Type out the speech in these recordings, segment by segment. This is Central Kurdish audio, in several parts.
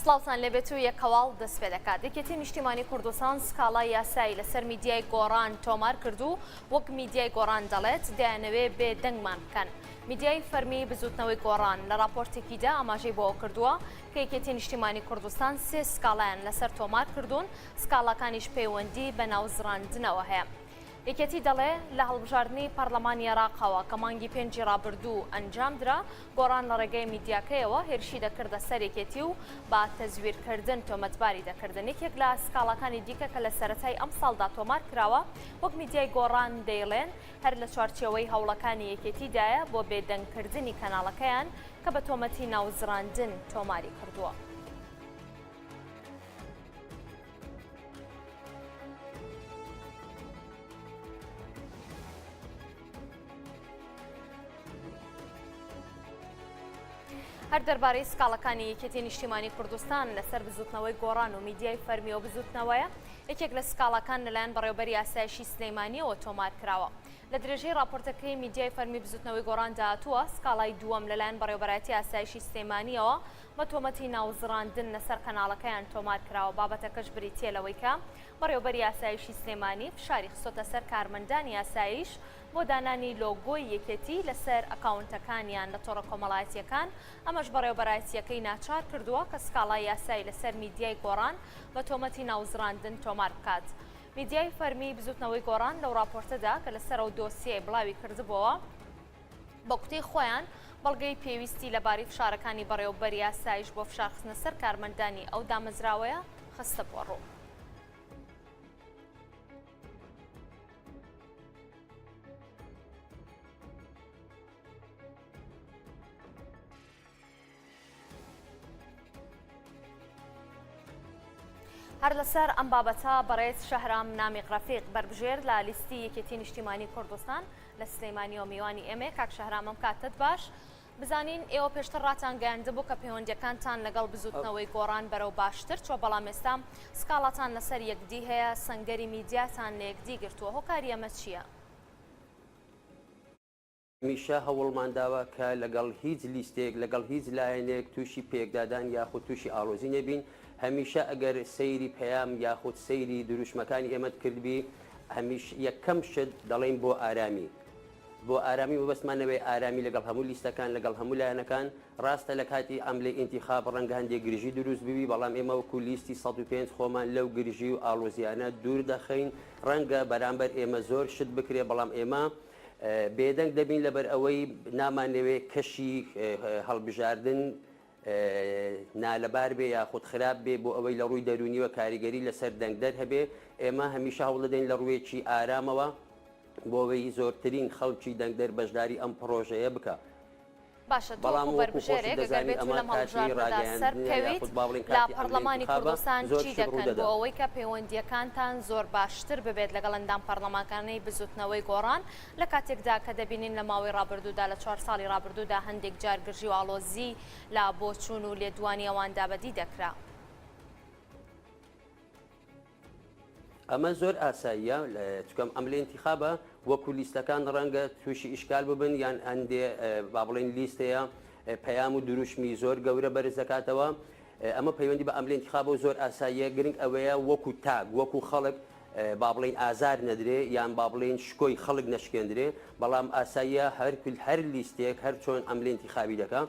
سڵاوتان لێبێت و یەک هەواڵ دەست پێ دەکات یەکێتی نیشتیمانی کوردستان سکاڵا یاسایی لەسەر میدیای گۆڕان تۆمار کردو وەک میدیای گۆڕان دەڵێت دەیانەوێ بێ دەنگمان بکەن میدیای فەرمی بزوتنەوەی گۆڕان لە راپۆرتێکیدا ئاماژەی بۆ کردووە کە یەکێتی نیشتیمانی کوردستان سێ سکاڵایان لەسەر تۆمار کردوون سکاڵاکانیش پەیوەندی بە ناوزڕاندنەوە هەیە. یەکێتی دەڵێ لە هەڵبژاردنی پەڕلەمانی عێراقەوە کە مانگی پێنجی رابردوو ئەنجامدرا، گۆڕان لە رێگەی میدیاکەیەوە هێرشی دەکردە سەر یەکێتی و بە تەزویرکردن تۆمەتباری دەکردن. یەکێک لە سکاڵاکانی دیکە کە لە سەرەتای ئەمساڵدا تۆمارکراوە، وەک میدیای گۆڕان دەیڵێن هەر لە چوارچێوەی هەوڵەکانی یەکێتیدایە بۆ بێدەنگکردنی کەناڵەکەیان کە بە تۆمەتی ناوزڕاندن تۆماریکردووە. هەر دەربارەی سکاڵەکانی یەکێتی نیشتیمانی کوردستان لەسەر بزوتنەوەی گۆڕان و میدیای فەرمی و بزوتنەوەیە یەکێک لە سکاڵەکان لەلایەن بەڕێوبەری ئاسایشی سلەیمانیەوە تۆمار کراوە لە درێژەی راپۆرتەکەی میدیای فەرمی بزوتنەوەی گۆڕان داهاتووە سکاڵای دووەم لەلایەن بەڕێوبەرایەتی ئاسایشی سلەیمانیەوە بە تۆمەتی ناوزڕاندن لەسەر قەناڵەکەیان تۆمار کراوە، بابەتەکەش بریتییە لەوەی کە بەڕێوەبەری ئاسایشی سلێمانی فشاری خستۆتە سەر کارمەندانی ئاسایش بۆ دانانی لۆگۆی یەکێتی لەسەر ئەکاونتەکانیان لە تۆڕە کۆمەڵایەتییەکان، ئەمەش بەڕێوەبەرایەتییەکەی ناچار کردووە کە سکاڵای یاسایی لەسەر میدیای گۆڕان بە تۆمەتی ناوزڕاندن تۆمار بکات. میدیای فەرمیی بزوتنەوەی گۆڕان لەو ڕاپۆرتەدا کە لەسەر ئەو دۆسیەیە بڵاوی کردبووەوە، بە گوتەی خۆیان، بەڵگەی پێویستی لەبارەی فشارەکانی بەڕێوەبەری ئاسایش بۆ فشارخستنە سەر کارمەندانی ئەو دامەزراوەیە خستبووەڕوو. هەر لەسەر ئەم بابەتە بەڕێز شەهرام نامیق ڕەفیق بەربژێر لە لیستی یەکێتی نیشتیمانی کوردستان لە سلەیمانیەوە میوانی ئێمەیە کاک شەهرام ئەم کاتت باش بزانین ئێوە پێشتر ڕاتان گەیاندبوو کە پەیوەندەکانتان لەگەڵ بزوتنەوەی گۆڕان بەرەو باشتر چۆ بەڵام ئێستا سکاڵاتان لەسەر یەکدی هەیە سنگەری میدیاتان لە یەکدی گرتووە هۆکاری ئەمە چییە؟ هەمیشە هەوڵمان داوە کە لەگەڵ هیچ لیستێک، لەگەڵ هیچ لایەنێک تووشی پێکدادان یاخود تووشی ئاڵۆزی نەبین، هەمیشە ئەگەر سەیری پەیام یاخود سەیری دروشمەکانی ئێمەت کردبی، هەمیش یەکەم شت دەڵێین بۆ ئارامی، بۆ ئارامی، مەبەستمان نەبێت ئارامی لەگەڵ هەموو لیستەکان، لەگەڵ هەموو لایەنەکان، ڕاستە لە کاتی عەملی ئینتیخاب ڕەنگە هەندێک گرژی دروست ببی، بەڵام ئێمە وەکو لیستی سەد و پێنج خۆمان لەو گرژی و ئاڵۆزییانە دوور دەخەین، ڕەنگە بەرامبەر ئێمە زۆر شت بکرێت، بەڵام ئێمە بێدەنگ دەبین لەبەر ئەوەی نامانەوێت کەشی هەڵبژاردن نالەبار بێ یاخود خراپ بێ بۆ ئەوەی لە ڕووی دەرونیوە کاریگەری لەسەر دەنگدەر هەبێ ئێمە هەمیشە هەوڵدەین لە ڕوویەکی ئارامەوە بۆ ئەوەی زۆرترین خەڵکی دەنگدەر بەشداری ئەم پڕۆژەیە بکە. باشە تۆ وەکو بەربژێرێک ئەگەر بێت و لەم هەڵبژاردنەدا سەربکەویت لە پەڕلەمانی کوردستان چی دەکەن بۆ ئەوەی کە پەیوەندییەکانتان زۆر باشتر ببێت لەگەڵ ئەندام پەڕلەمانکانەی بزوتنەوەی گۆڕان لە کاتێکدا کە دەبینین لە ماوەی ڕابردوودا لە چوار ساڵی ڕابردوودا هەندێک جار گرژی و ئاڵۆزی لە بۆچوون و لێدوانی ئەواندا بەدی دەکرا؟ ئەمە زۆر ئاساییە چکەم ئەم لە انتخابە وەکو لیستەکان ڕەنگە تووشی ئیشکال ببن یان ئەندێ با بڵێن لیستەیە پەیام و دروشمی زۆر گەورە بەرز دەکاتەوە ئەمە پەیوەندی بە ئەملێن خابۆ زۆر ئاساییە گرنگ ئەوەیە وەکو تاگ وەکو خەڵک با بڵین ئازار نەدرێ یان با بڵین شکۆی خەڵک نەشکێندرێ بەڵام ئاساییە هەرکل هەر لیستێک هەر چۆن ئەملێنتی خاوی دەکە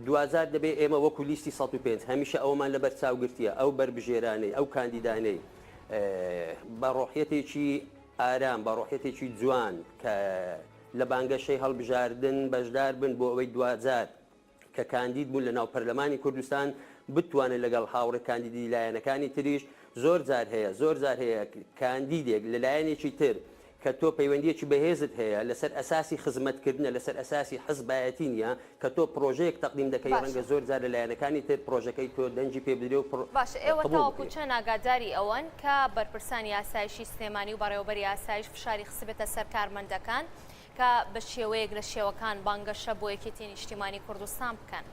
دواجار دەبێت ئێمە وەکو لیستی سەد و پێنج هەمیشە ئەوەمان لەبەر چاو گرتیە ئەو بەربژێرانەی ئەو کاندیدانەی بە ڕۆحیەتێکی ئارام بە ڕۆحیەتێکی جوان کە لە بانگەشەی هەڵبژاردن بەشدار بن بۆ ئەوەی دواجار کە کاندید بوون لە ناو پەرلەمانی کوردستان بتوانن لەگەڵ هاوڕێ کاندیدی لایەنەکانی تریش زۆر جار هەیە زۆر جار هەیە کاندیدێک لە لایەنێکی تر کە تۆ پەیوەندیەکی بەهێزت هەیە لەسەر ئەساسی خزمەتکردنە لەسەر ئەساسی حزبایەتی نیە کە تۆ پرۆژەیەک تەقدیم دەکەی ڕەنگە باشە. زۆر جار لە لایەنەکانی تر پرۆژەکەی تۆ دەنگی پێ بدرێ و پر باشە ئێوە قبوڵ تاوەکو بکرێ. چەند ئاگاداری ئەوەن کە بەرپرسانی ئاسایشی سلێمانی و بەڕێوەبەری ئاسایش فشاری خستبێتە سەر کارمەندەکان کە بە شێوەیەک لە شێوەکان بانگەشە بۆ یەکێتی نیشتیمانی کوردستان بکەن؟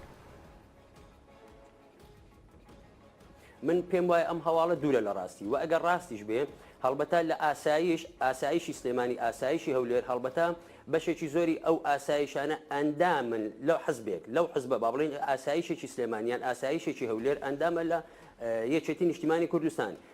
من پێم وایە ئەم هەواڵە دوورە لە ڕاستی و ئەگەر ڕاستیش بێ هەڵبەتا لە ئاسایش ئاسایشی سلێمانی ئاسایشی هەولێر هەڵبەتا بەشێکی زۆری ئەو ئاسایشانە ئەندامن لەو حزبێک لەو حزبە با بڵین ئاسایشێکی سلێمانیان ئاسایشێکی هەولێر ئەندامە لە یەکێتی نیشتیمانی کوردستان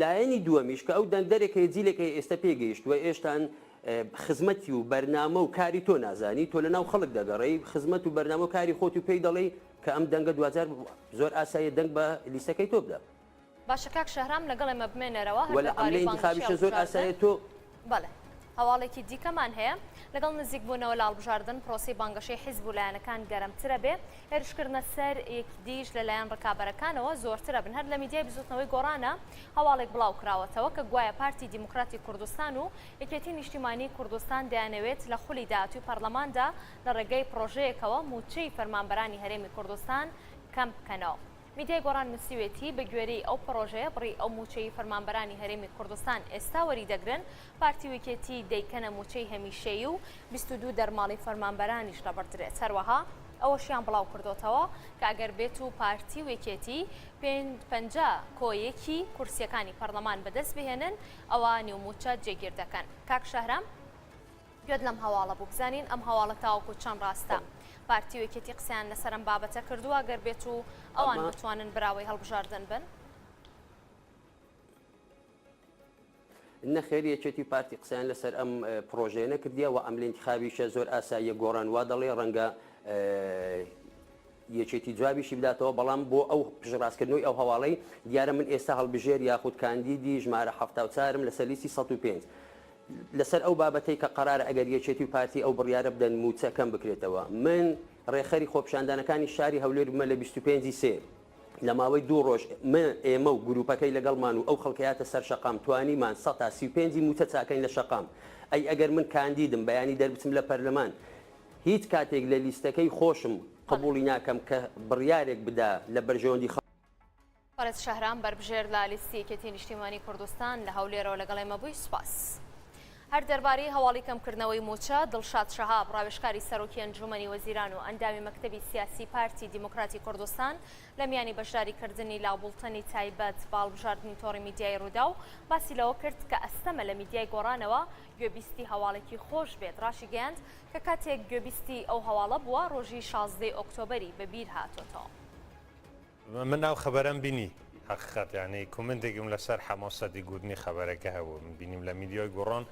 لایەنی دووەمیش کە ئەو دەنگدەرێک هەیە جیلێک هەیە ئێستا پێی گەیشتووە ئێشتان خزمەتی و بەرنامە و کاری تۆ نازانی تۆ لەناو خەڵک دەگەڕێی خزمەت و بەرنامە و کاری خۆت و پێی دەڵێی کە ئەم دەنگە دواجار زۆر ئاساییە دەنگ بە لیستەکەی تۆ بدات. باشە کاک شەهرام لەگەڵ ئێمە بمێنەرەوە هەر وەلا دەربارەی ئەملێ بانگەشەی ئینتخابیشە زۆر ئەڵکوزاتە. ئاسایە تۆ بەڵێ. هەواڵێکی دیکەمان هەیە، لەگەڵ نزیکبوونەوە لە هەڵبژاردن، پرۆسەی بانگەشەی حیزب و لایەنەکان گەرمترە بێ، هێرشکردنە سەر یەکدیش لەلایەن رکابەرەکانەوە زۆرتر ئەبن، هەر لە میدیای بزوتنەوەی گۆڕانە هەواڵێک بڵاوکراوەتەوە کە گوایە پارتی دیموکراتی کوردستان و یەکێتی نیشتیمانی کوردستان دەیانەوێت لە خولی داهاتووی پەرلەماندا لە رێگەی پرۆژەیەکەوە مووچەی فەرمانبەرانی هەرێمی کوردستان کەمبکەنەوە. میدیای گۆڕان نووسیوێتی، بەگوێرەی ئەو پڕۆژەیە بڕی ئەو مووچەی فەرمانبەرانی هەرێمی کوردستان ئێستا وەریدەگرن، پارتی و یەکێتی دەیکەنە مووچەی هەمیشەیی و بیست و دوو دەرماڵی فەرمانبەرانیش لەبڕدرێت، هەروەها ئەوەشیان بڵاوکردۆتەوە کە ئەگەر بێتو پارتی و یەکێتی پێنج پەنجا کۆ یەکی کورسییەکانی پەرلەمان بەدەستبهێنن ئەوا نیو مووچە جێگیردەکەن. کاک شەهرام. گوێت لەم هەواڵە بوو بزانین ئەم هەواڵە تاوەکو چەند ڕاستە پارتی و یەکێتی قسەیان لەسەر ئەم بابەتە کردووە گەر بێت و ئەوان بتوانن براوەی هەڵبژاردن بن؟ نەخێر یەکێتی پارتی قسەیان لەسەر ئەم پرۆژەیە نەکردیە و ئەم لینتخابیشە زۆر ئاساییە گۆڕان وا دەڵێ ڕەنگە یەکێتی جوابیشی بداتەوە بەڵام بۆ ئەو پژڕاستکردنەوەی ئەو هەواڵەی دیارە من ئێستا هەڵبژێر یاخود کاندیدی ژمارە ه چارم لە سەلیسی 105. لەسەر ئەو بابەتەی کە قەرارە ئەگەر یەکێتی و پارتی ئەو بڕیارە بدەن مووچە کەم بکرێتەوە، من رێکخەری خۆپیشاندانەکانی شاری هەولێر بمە لە بیست و پێنج ی سێ لە ماوەی دوو رۆژ مە ئێمە و گروپەکەی لەگەڵمان و ئەو خەڵکە یاتە سەر شەقام توانیمان سەد تا سی و پێنج ی مووچە چاکەین لە شەقام ئەی ئەگەر من کاندیدم بەیانی دەربچم لە پەرلەمان هیچ کاتێک لە لیستەکەی خۆشم قبوڵی ناکەم کە بڕیارێک بدا لە بەرژەوەندی بەڕێز شەهرام بەربژێر لە لیستی یەکێتی نیشتیمانی کوردستان لە هەولێرەوە لەگەڵ ئێمە بووی سوپاس. هەر دەربارەی هەواڵی کەمکردنەوەی مووچە، دڵشاد شەهاب، ڕاوێژکاری سەرۆکی ئەنجوومەنی وەزیران و ئەندامی مەکتەبی سیاسی پارتی دیموکراتی کوردستان لە میانی بەشداریکردنی لە بوڵتەنی تایبەت بە هەڵبژاردنی تۆڕی میدیایی رووداو باسی لەوە کرد کە ئەستەمە لە میدیای گۆڕانەوە گوێبیستی هەواڵێکی خۆش بێت، ڕاشیگەیاند کە کاتێک گوێبیستی ئەو هەواڵە بووە ڕۆژی شازدەی ئۆکتۆبەری بەبیر هاتۆتەوە. من ئەو خەبەرەم بینی حەقیقەت یانی کومنتێکم لەسەر حەمۆ سەدی گوتنی خەبەرەکە هەبوو من بینیم لە میدیۆی گوڕۆن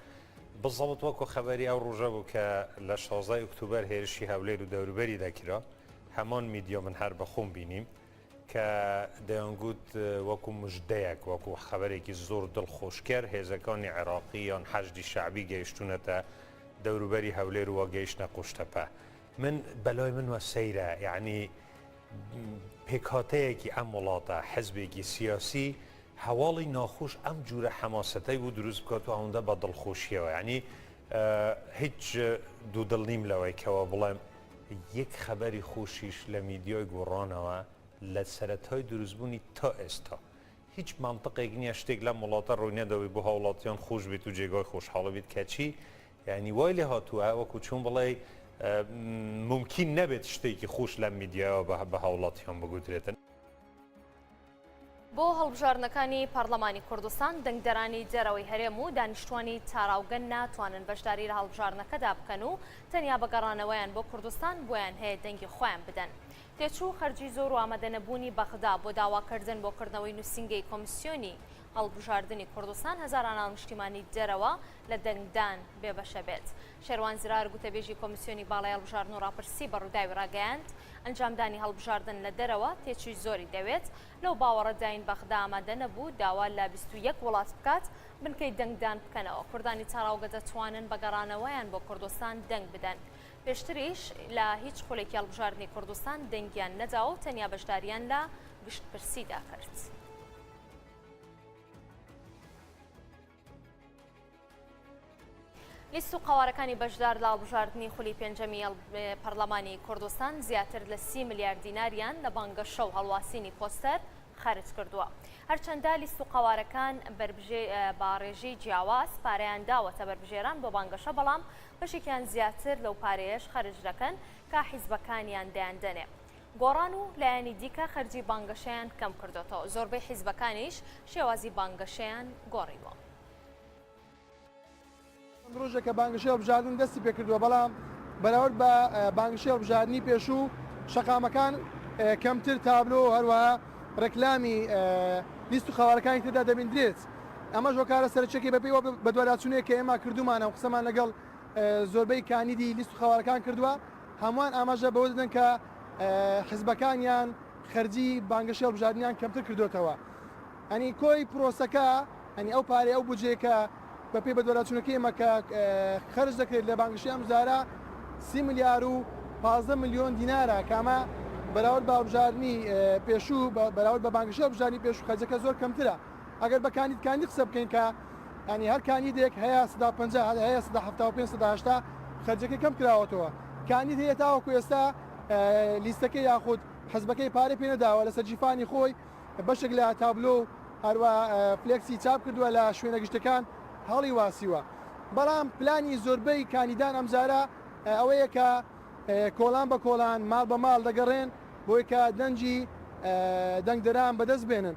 بزەڵت وەکو خەبەری ئەو ڕژە بوو کە لە 16 ئۆکتوبەر هێرشی هەولێر و دەوروبەری دەکرا هەمۆن میدیۆ من هەر بەخۆم بینیم کە دەیانگووت وەکو مژدەیەک وەکو خەبەرێکی زۆر دڵخۆشکەر هێزەکانی عێراقی یان حەشدی شعبی گەیشتونەتە دەوروبەری هەولێر وە گەیشتە قوشتەپە من بەلای من وە سەیرە یعنی پێکهاتەیەکی ئەم وڵاتە، حزبێکی سیاسی هەواڵی ناخۆش ئەم جورە حەماسەتەی بۆ دروست بکات و ئەوەندە بە دڵخۆشیەوە یانی هیچ دوو دڵ نیم لەوەی کەەوە بڵێم یەک خەبەری خۆشیش لە میدیۆی گۆڕانەوە لە سەرەتای دروستبوونی تا ئێستا هیچ مامتەقێک نییە شتێک لەم وڵاتە ڕووی نەدەوەی بۆ هاوڵاتیان خۆش بێت و جێگای خۆشحاڵە بێت کەچی یانی وای لێ هاتووە وەکو چون بڵێی مومکین نەبێت شتێکی خوش لەم میدیایەوە بە بە هاوڵاتیان بگوترێتن. بۆ هەڵبژاردنەکانی پەڕلەمانی کوردستان، دەنگدەرانی دەرەوەی هەرێم و دانیشتووانی تاراوگە ناتوانن بەشداری لە هەڵبژاردنەکەدا بکەن و تەنیا بە گەڕانەوەیان بۆ کوردستان بۆیان هەیە دەنگی خۆیان بدەن. تێچوو، خەرجی زۆر و ئامادەنەبوونی بەغدا بۆ داواکردن بۆ کردنەوەی نووسینگەی کۆمسیۆنی هەڵبژاردنی کوردستان هەزاران هاونیشتیمانی دەرەوە لە دەنگدان بێبەشە بێت. شێروان زرار گوتەبێژی کۆمیسیۆنی باڵای هەڵبژاردن و ڕاپرسی بە ڕووداوی ڕاگەیاند، ئەنجامدانی هەڵبژاردن لە دەرەوە تێچووی زۆری دەوێت، لەو باوەڕەداین بەغدا ئامادە نەبوو داوا لە بیست و یەک وڵات بکات بنکەی دەنگدان بکەنەوە، کوردانی تاراوگە دەتوانن بە گەڕانەوەیان بۆ کوردستان دەنگ بدەن. پێشتریش لە هیچ خولێکی هەڵبژاردنی کوردستان دەنگیان نەداوە و تەنیا بەشدارییان لە گشتپرسیدا کرد. لیست و قەوارەکانی بەشدار لە هەڵبژاردنی خولی پێنجەمی پەرلەمانی کوردستان زیاتر لە سی ملیار دیناریان لە بانگەشە و هەڵواسینی پۆستەر خەرج کردووە هەرچەندە لیست و قەوارەکان باڕێژی جیاواز پارەیان داوەتە بەربژێران بۆ بانگەشە بەڵام بەشێکیان زیاتر لەو پارەیەش خەرج دەکەن کا حیزبەکانیان دەیاندەنێ گۆڕان و لایەنی دیکە خەرجی بانگەشەیان کەم کردۆتەوە، زۆربەی حیزبەکانیش شێوازی بانگەشەیان گۆڕیوە. چەند رۆژێکە بانگەشەی هەڵبژاردن دەستی پێکردووە، بەڵام بەراورد بە بانگەشەی هەڵبژاردنی پێشوو شەقامەکان کەمتر تابلۆ و هەروەها رێکلامی لیست و قەوارەکانی تێدا دەبیندرێت، ئەمەش هۆکارە سەرەکییەکەی بەپێی ئەو بەدواداچوونەی کە ئێمە کردوومانە و قسەمان لەگەڵ زۆربەی کاندیدی لیست و قەوارەکان کردووە. هەمووان ئاماژە بەوە دەدەن کە حزبەکانیان خەرجی بانگەشەی هەڵبژاردنیان کەمتر کردۆتەوە ئەنی کۆی پرۆسەکە ئەنی ئەو پارەی ئەو بجێ کە بەپی بەدوەراچونەکەی ئمە کە خەرج دەکرێت لە بانگشی ئەم جارە سی ملیار و پازدە ملیۆن دینارە کامە بەراورد بە هەڵبژاردنی پێشوو بەراورد بە بانگشی هەڵبژاردنی پێشوو خەرجەکە زۆر کەمترە. ئەگەر بە کاندید کاندید قسە بکەین کە یانی هەر کاندیدێک هەیە سەدا پەنجا هەر هەیە سەدا حەفتا و پێنج سەدا هەشتا خەرجەکەی کەم کراوەتەوە کاندید هەیە تاوەکو ئێستا لیستەکە یاخود حزبەکەی پارەی پێ نەداوە لەسەر جیفانی خۆی بەشێک لە تابلۆ و هەروە فلێکسی چاپ کردووە لە شوێنە گشتەکان هەڵی واسیوە بەڵام پلانی زۆربەی کاندیدان ئەمجارە ئەوەیە کە کۆلان بە کۆلان ماڵ بە ماڵ دەگەڕێن بۆی کە دەنجی دەنگدەران بەدەست بێنن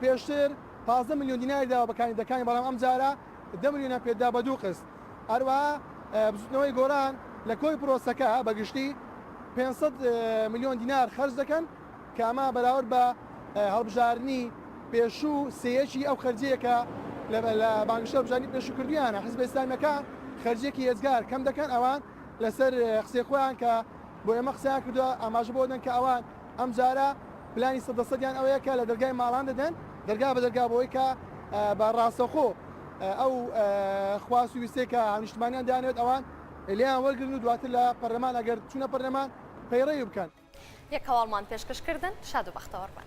پێشتر پازدە ملیۆن دیناری داوە بە کاندیدەکانی بەڵام ئەمجارە دە ملیۆنیان پێدرا بە دوو قست. هەروەها بزوتنەوەی گۆران لە کۆی پرۆسەکە بە گشتی پێنج سەد ملیۆن دینار خەرج دەکەن کە ئەمە بەراورد بە هەڵبژاردنی پێشوو سێیەکی ئەو خەرجیە کە لە بانگشە هەڵبژاردنی پێشوو کردویانە. حزبە ئیسلامیەکان خەرجیەکی ئێجگار کەم دەکەن ئەوان لەسەر قسەی خۆیان کە بۆ ئێمە قسەیان کردوە ئاماژە بەوە دەن کە ئەوان ئەمجارە پلانی سەد لە سەدیان ئەوەیە کە لە دەرگای ماڵان دەدەن دەرگا بە دەرگا بۆی کە بە ڕاستەوخۆ ئەو خواست و ویستەی کە هاونیشتمانیان دانەوێت ئەوان لێیان وەرگرن و دواتر لە پەرلەمان ئەگەر چوونە پەرلەمان پەیڕەوی بکەن. یەک هەواڵمان پێشکەش کردن شاد و بەختەوەر بن.